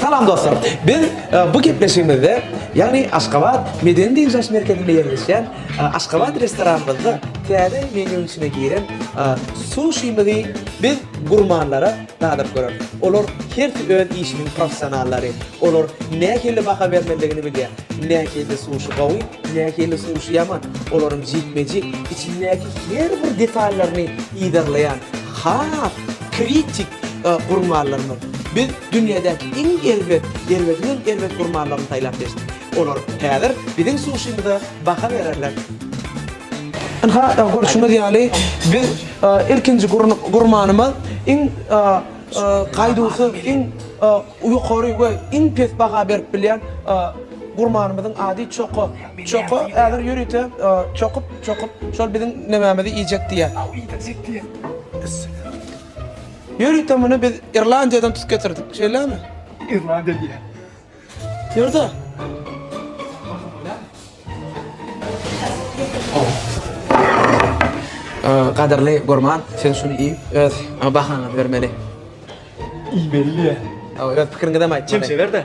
Salam dostlar! Biz bu gepleşigimizde, ýagny Aşgabat medeni dynç alyş merkezinde ýerleşýän Aşgabat restoranymyzda täze menýuň içine giren suşimizi biz gurmanlara dadyp göreris. Olar hersi öz işiniň professionallary. Olar nähili baha bermelidigini bilýär. Nähili suşi gowy, nähili suşi ýaman. Olaryň jikme-jik, içindäki her bir detallaryny yzarlaýan has kritik gurmanlarymyz. Biz dünýädäki iň erbet, erbediňem erbet gurmanlaryny saýlap seçdik. Olar häzir biziň suşimyza baha bererler. Ynha, görşüňiz ýaly, biz ilkinji gurmanymyz iň gaýduwsyz, iň ýokary we iň pes baha berip bilýän gurmanymyzyň ady Çoko. Çoko häzir ýörite çokup-çokup şol biziň nemämizi iýjek diýýär. Ýörite muny biz Irlandiýadan tutup getirdik. Şeýlemi? Irlandiýa diýýär. Ýörde. Gadyrly gurman, sen şuny iý, öz bahaňy bermeli. Iýmeli. Öz pikiriňizem aýtmaly. Çemçe ber-de.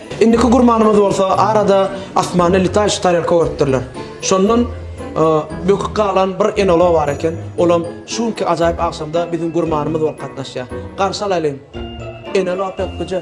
Indiki gurmanymyz bolsa arada asmanda letaýşy tarelka görüpdirler. Şondan bökük galan bir enolog bar eken, olam şu günki ajaýyp agşamda biziň gurmanymyz bolup gatnaşýar. Garşy alaýlyň! Enolog ökgüje!